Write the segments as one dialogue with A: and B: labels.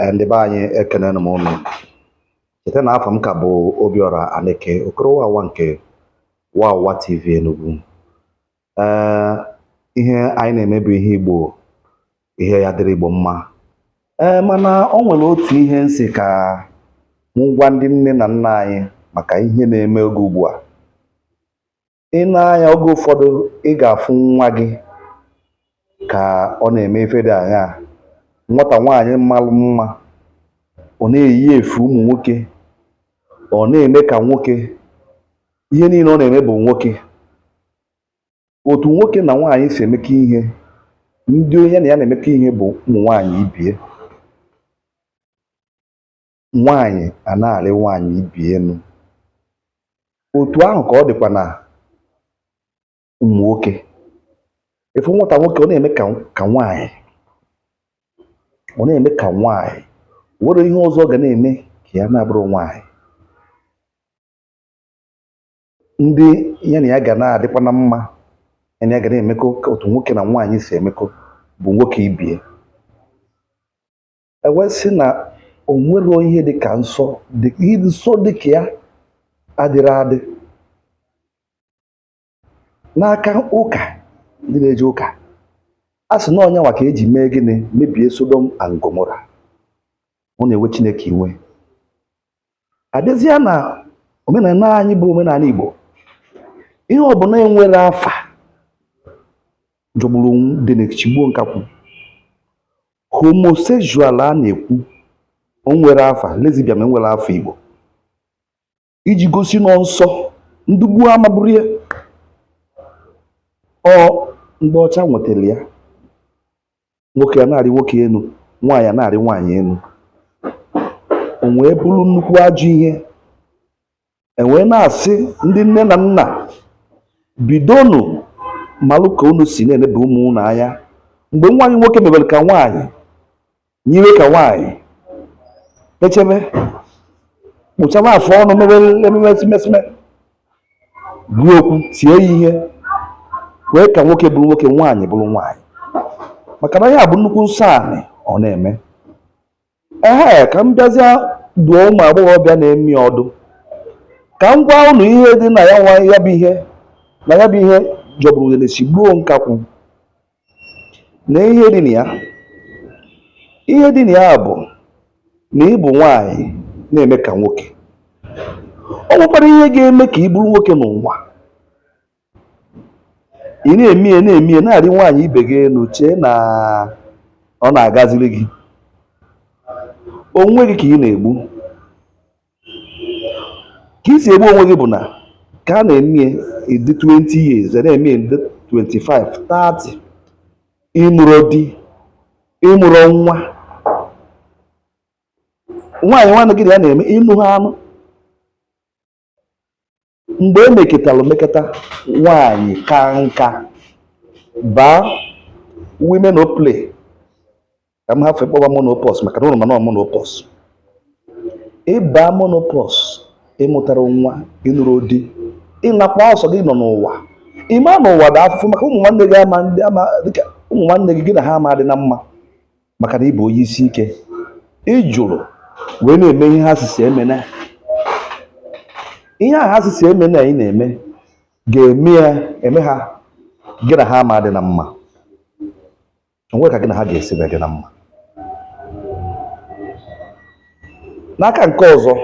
A: Eh, ndị be anyị ekenenụ m ụnụ cheta na afa m ka bụ Obiora Aneke Okorowawa nke Wawa TV Enugu ee eh, ihe anyị na-eme bụ ihe Igbo ihe ya dịrị Igbo mma ee eh, mana o nwere otu ihe m sị ka m gwa ndị nne na nna anyị maka ihe na-eme oge ugbu a i nee anya oge ụfọdụ ị ga-afụ nwa gị ka ọ na-eme ife dị aṅaa nwata nwaanyị malụ mma ọ na-eyi efe ụmụ nwoke ọ na-eme ka nwoke ihe niile ọ na-eme bụ nwoke otu nwoke na nwaanyị si emekọ ihe ndị onye na ya na-emekọ ihe bụ ụmụ nwaanyị ibe ya nwaanyị a na-arị nwaanyị ibe ya enu otu ahụ ka ọ dịkwa na ụmụ nwoke ị fụ nwata nwoke ọ na-eme ka nwaanyị ọ na-eme ka nwaanyị nwero ihe ọzọ ọ ga na-eme ka ya na-abụrụ nwaanyị ndị ya na ya ga na-adịkwa na mma ya na ya ga na-emekọ otu nwoke na nwaanyị si emekọ bụ nwoke ibe ya e wee sị na o nwero ihe dị ka nsọ nsọ dị ka ya adịrọ adị n'aka ụka ndị na-eje ụka a sị na ọ ya nwa ka e ji mee gịnị mebie Sodom and Gomorrah ọ na-ewe Chineke iwe a bịazịa na omenala anyị bụ omenala Igbo ihe ọbụla enwero afa jọgburu udene sigbuo nkakwụ homosexual a na-ekwu o nwero afa lesbian enwero afa Igbo iji gosi na ọ nsọ ndị gboo amaburo ya ọ ndị ọcha wetara ya nwoke a na-arị nwoke enu nwaanyị a na-arị nwaanyị enu o wee bụrụ nnukwu ajọ ihe m wee na-asị ndị nne na nna bidonụ malụ ka unu si na-eneba ụmụ unu anya mgbe nwa gị nwoke mebere ka nwaanyị yiwe ka nwaanyị echebe kpụchaba afọ ọnụ mebere ememe simesime gwa ya okwu tie ya ihe kwee ka nwoke bụrụ nwoke nwaanyị bụrụ nwaanyị maka na ya bụ nnukwu nsọ anị ọ na-eme ee ka m bịazie dụọ ụmụ agbọghọbịa na-eme ya ọdụ ka m gwa ụnụ ihe dị na ya nwa ya bụ ihe na ya bụ ihe jọgburu udene sigbuo nkakwụ na ihe dị na ya ihe dị na ya bụ na ị bụ nwaanyị na-eme ka nwoke ọ nwekwara ihe ga-eme ka ị bụrụ nwoke n'ụwa ị na-eme ya na-eme ya na-arị nwaanyị ibe gị enu chee na ọ na-agaziri gị onwe gị ka ị na-egbu ka i si egbu onwe gị bụ na ka a na-eme ị dị 20 years na-eme ị dị 25 30 ị nụrọ di ị mụrọ nwa nwaanyị nwanne gị na ya na-eme ị nụ ha anụ mgbe e mekatara mekata nwaanyị kaa nka baa women o play ka m hafe ịkpọba menopause maka na ụlọ mana menopause ị baa menopause ị mụtarọ nwa ị nụrọ di ị nọkwa ọ sọ gị nọ n'ụwa ị ma na ụwa dị afụfụ maka ụmụ nwanne gị ama ndị ama dịka ụmụ nwanne gị gị na ha ama dị na mma maka na ị bụ onye isi ike ị jụrụ wee na-eme ihe ha sị sị emena ihe a ha sị sị emena ị na-eme ga-eme ya eme ha gị na ha ama dị na mma o nwe ka gị na ha ga-esi wee dị na mma n'aka nke ọzọ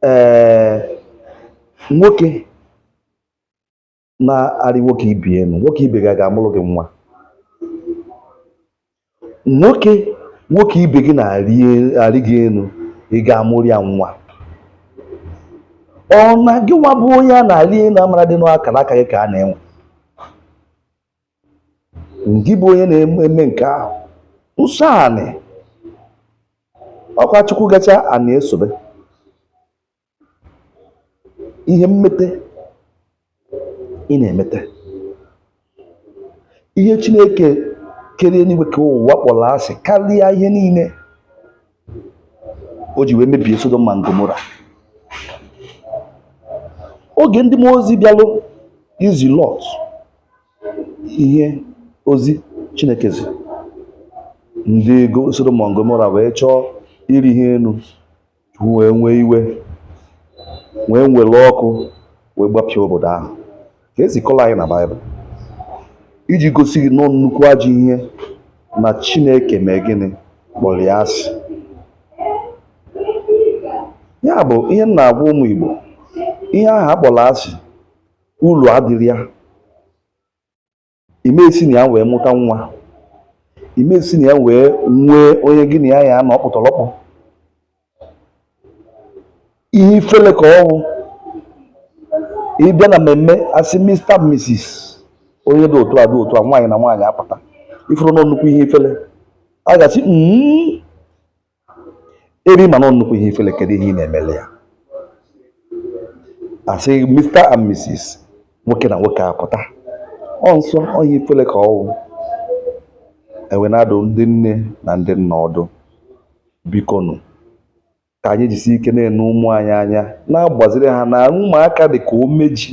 A: ee nwoke na-arị nwoke ibe ya enu nwoke ibe gị ga-amụrụ gị nwa nwoke nwoke ibe gị na-arị gị enu ị ga-amụrụ ya nwa ọ na gị nwa bụ onye a na-arị enu amara dị n'akara aka gị ka a na-enwe ngị bụ onye na-eme nke ahụ nsọ anị ọkwa chukwu gachaa anị esobe ihe mmete ị na-emete ihe Chineke kere eluigwe kee ụwa kpọrọ asị karịa ihe niile o ji wee mebie Sodom and Gomora oge ndị mmụọ ozi bịalụ izi Lọt ihe ozi Chineke zi ndị Sodom and Gomora wee chọọ ịrị ha enu wee nwee iwe wee nwere ọkụ wee gbapịa obodo ahụ ka e si kọla anyị na baịbụl iji gosi gị na ọ nnukwu ajọ ihe na chineke mee gịnị kpọrọ ya asị ya bụ ihe m na-agwa ụmụ igbo ihe ahụ a kpọrọ asị ulu adịrọ ya ị ma esi na ya wee mụta nwa ị ma esi na ya wee nwee onye gị na ya ya-anọ ọkpụtọrọkpụ ihe ifele ka ọ wụ ị bịa na mmemme a sị mista misis onye dị otu a dị otu a nwaanyị na nwaanyị apụta ị fụrụ na ọ nnukwu ihe ifele a ga-asị mm, eri mana ọ nnukwu ihe ifele kedu ihe ị na-emele ya a sị Mr and Mrs nwoke na nwoke apụta ọ nsọ ọ ihe ifele ka ọ wụ e wee na-adụ ndị nne na ndị nna ọdụ bikonu ka anyị jisi ike na-ene ụmụ anyị anya na-agbaziri ha na ụmụaka dị ka ome ji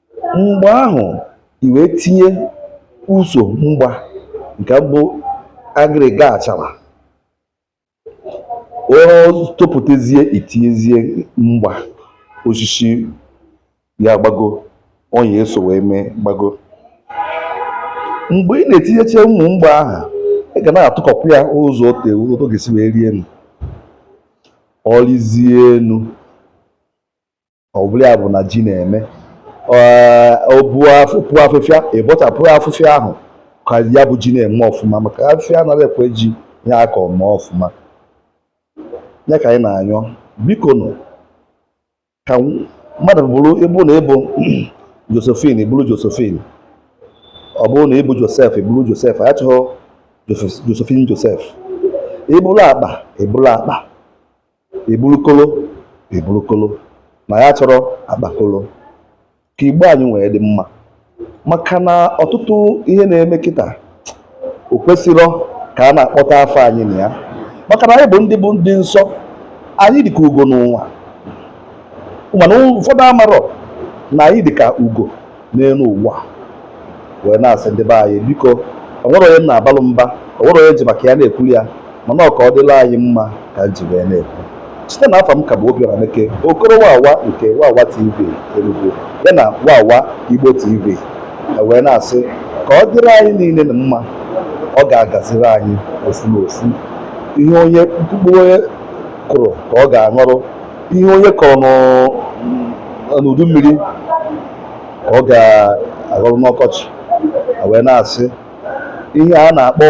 A: mgbe ahụ i wee tinye ụzọ mgba nke bụ agịrịga achara ọ topụtazie i tinyezie mgba osisi ya gbago ọ ya-eso wee mee gbago mgbe ị na-etinyecha ụmụ mgba ahụ ị ga na-atụkọkwụ ya ụzọ otu etu ọ ga-esi wee rịa enu ọ rịzie enu ọ bụrụ ya bụ na ji na-eme o puo afịfịa ị bọchapụ afịfịa ahụ ka ya bụ ji na-eme ọfụma maka afịfịa anaghị ekwe ji ya aka ọma ọfụma ya ka anyị na-anyọ biko nụ ka mmadụ bụrụ ị bụ na ị bụ Josephine ị bụrụ Josephine ọ bụrụ na ị bụ Joseph ị bụrụ Joseph a chọghị Josephine Joseph ị bụrụ akpa ị bụrụ akpa ị bụrụ kolo ị bụrụ kolo na ya achọrọ akpakolo ka igbo anyị nwee dị mma maka na ọtụtụ ihe na-eme kịta o kwesịrọ ka a na-akpọta afa anyị na ya maka na anyị bụ ndị bụ ndị nsọ anyị dịka ugo n'ụwa mana ụfọdụ amarọ na anyị dịka ugo n'elu ụwa wee na-asị ndị be anyị biko o nwerọ onye m na-abalụ mba o nwerọ onye ji maka ya na-ekwuru ya mana ọ ka ọ dịrị anyị mma ka m ji wee na-ekwu cheta na afa m ka bụ Obiora Meke okoro wawa nke wawa tv Enugu ya na wawa Igbo tv e wee na-asị ka ọ dịrị anyị niile na mma ọ ga-agaziri anyị ofu na ofu ihe onye mkpụrụ onye kụrụ ka ọ ga-aghọrọ ihe onye kọrọ n'udu mmiri ka ọ ga-aghọrọ n'ọkọchị wee na-asị ihe a na-akpọ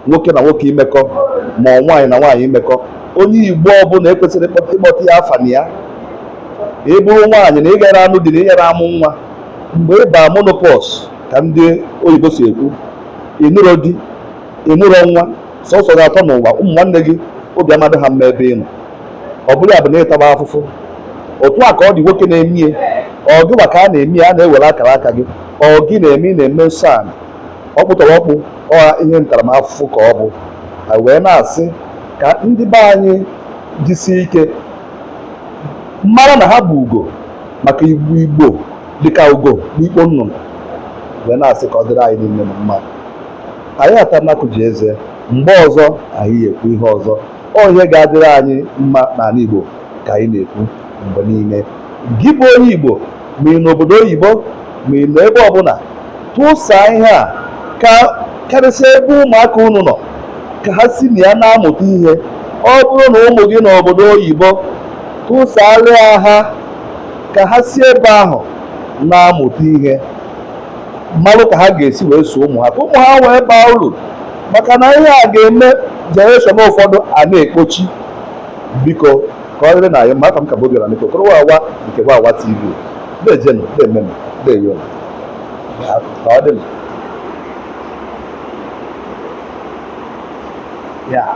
A: nwoke na nwoke imekọ ma ọ nwaanyị na nwaanyị imekọ onye igbo ọbụla ekwesịrọ ịkpọta ya afa na ya ị bụrụ nwaanyị na ị gara anụ di na ị gara amụ nwa mgbe ị baa menopause ka ndị oyibo si ekwu ị nụrọ di ị mụrụ nwa sọsọ gị atọ n'ụwa ụmụ nwanne gị obi amadị ha mma ebe ị nọ ọ bụrụ ya bụ na ị taba afụfụ otu a ka ọ dị nwoke na-emie ọ gịwa ka a na-emie a na-ewere akara aka gị ọ gị na-eme ị na-eme nsọ ala ọkpụtọrọkpụ ọha ihe ntaramafụfụ ka ọ bụ wee na-asị ka ndị be anyị jisie ike mara na ha bụ ugo maka igbo dịka ugo n'ikpo nnụnụ wee na-asị ka ọ dịrị anyị niile na mma anyị atana akụ ji eze mgbe ọzọ anyị ekwu ihe ọzọ ọ ihe ga-adịrị anyị mma n'ala Igbo ka anyị na-ekwu mgbe niile gị bụ onye Igbo ma ị nọ obodo oyibo ma ị nọ ebe ọbụla tụsaa ihe a ka karịsịa ebe ụmụaka unu nọ ka ha si na ya na-amụta ihe ọ bụrụ na ụmụ gị nọ obodo oyibo tụsaalịa ha ka ha si ebe ahụ na-amụta ihe malụ ka ha ga-esi wee zụọ ụmụ ha ka ụmụ ha wee baa uru maka na ihe a ga-eme generation ụfọdụ a na-ekpochi biko ka ọ dịrị nụ anyị mma afa m ka bụ obiọra aneke okoro wawa nke wawa tv deejenụ deemenụ ndeewo ka ọ dịnụ Yeah.